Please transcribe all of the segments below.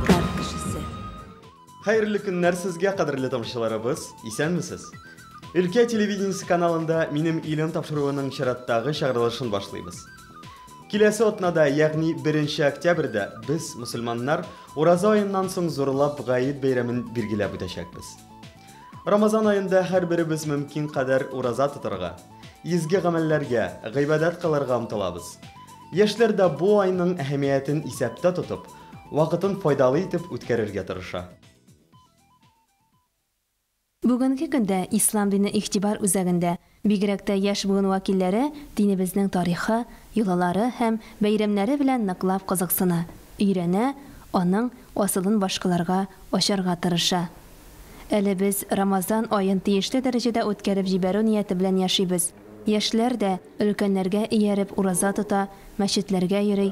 Кар кешесе. Хәерле көннәр сезгә, кадерле тамашачыларыбыз. Исәнмесез. Өлкә телевидениесе каналында Минем илем тапшыруының чираттагы чыгарылышын башлыйбыз. Киләсе атнада, ягъни 1 октябрьдә без, мусульманнар, Ураза аеннан соң зурлап Гает бәйрәмен билгеләп үтәчәкбез. Рамазан аенда һәрберебез мөмкин кадәр ураза тотарга, изге гамәлләргә, гыйбадәт кылырга омтылабыз. Яшьләр дә бу айның әһәмиятен исәптә тотып, Вакытын файдалы итеп үткәрергә тырыша. Бүгенге көндә Ислам дине игътибар үзәгендә, бигрәк тә яшь буын вәкилләре динебезнең тарихы, йолалары һәм бәйрәмнәре белән ныклап кызыксына, өйрәнә, аның асылын башкаларга ачарга тырыша. Әле без Рамазан аен тиешле дәрәҗәдә үткәреп җибәрү нияте белән яшибез. Яшьләр дә, өлкәннәргә ияреп, ураза тота, мәчетләргә йөри,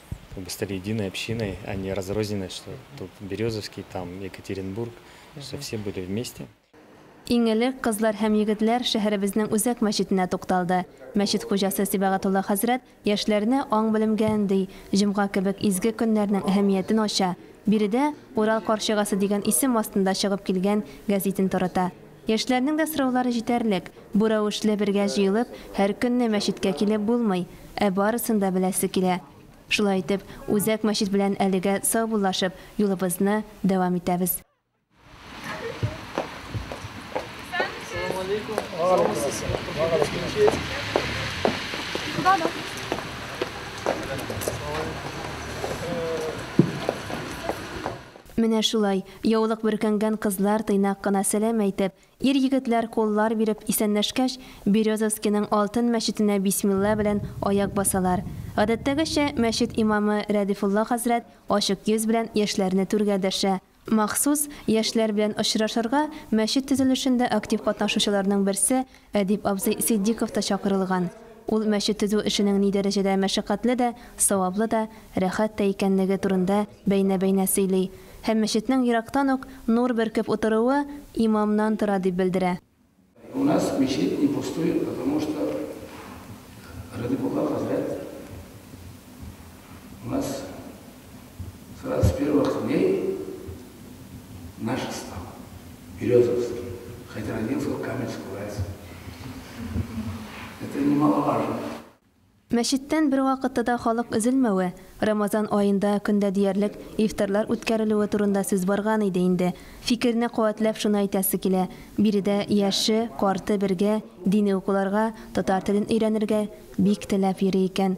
Чтобы стали единой общиной, а не разрозненной, что тут Березовский, там Екатеринбург, что все были вместе. Иң элек кызлар һәм егетләр шәһәребезнең үзәк мәчетенә тукталды. Мәчет хуҗасы Сибәгатулла хәзрәт яшьләрне аң-белемгә өнди, җомга кебек изге көннәрнең әһәмиятен ача, биредә Урал карчыгасы дигән исем астында чыгып килгән гәзитен тарата. Яшьләрнең дә сораулары җитәрлек. Бу рәвешле бергә җыелып, һәр көнне мәчеткә килеп булмый, ә барысын да беләсе килә. Шулай итеп, Үзәк мәчет белән әлегә саубуллашып, юлыбызны дәвам итәбез. Менә шулай, яулык бөркәнгән кызлар тыйнак кына сәлам әйтеп, ир-егетләр куллар биреп исәнләшкәч, Березовскиның Алтын мәчетенә бисмилла белән аяк басалар. Гадәттәгечә, мәчет имамы Рәдифулла хәзрәт ачык йөз белән яшьләрне түргә дәшә. Махсус, яшьләр белән очрашырга мәчет төзелешендә актив катнашучыларның берсе Әдип абзый Ситдиков та чакырылган. Ул мәчет төзү эшенең ни дәрәҗәдә мәшәкатьле дә, саваплы да, рәхәт тә икәнлеге турында бәйнә-бәйнә сөйли һәм мәчетнең ерактан ук нур бөркеп утыруы имамнан тора дип белдерә. У нас мечеть не пустует, потому что Радикулла хәзрәт у нас С двадцать первых дней наша стала. Березовский. Хотя родился в Каменск, Уральск. Это немаловажно. Мәчеттән бервакытта да халык өзелмәве, Рамазан аенда көндә диярлек ифтарлар үткәрелүе турында сүз барган иде инде. Фикерне куәтләп шуны әйтәсе килә, биредә яше, карты бергә дини укуларга, татар телен өйрәнергә бик теләп йөри икән.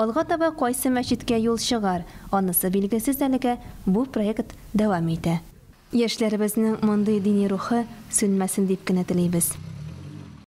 Алга таба кайсы мәчеткә юл чыгар, анысы билгесез әлегә, бу проект дәвам итә. Яшьләребезнең мондый дини рухы сүнмәсен дип кенә телибез.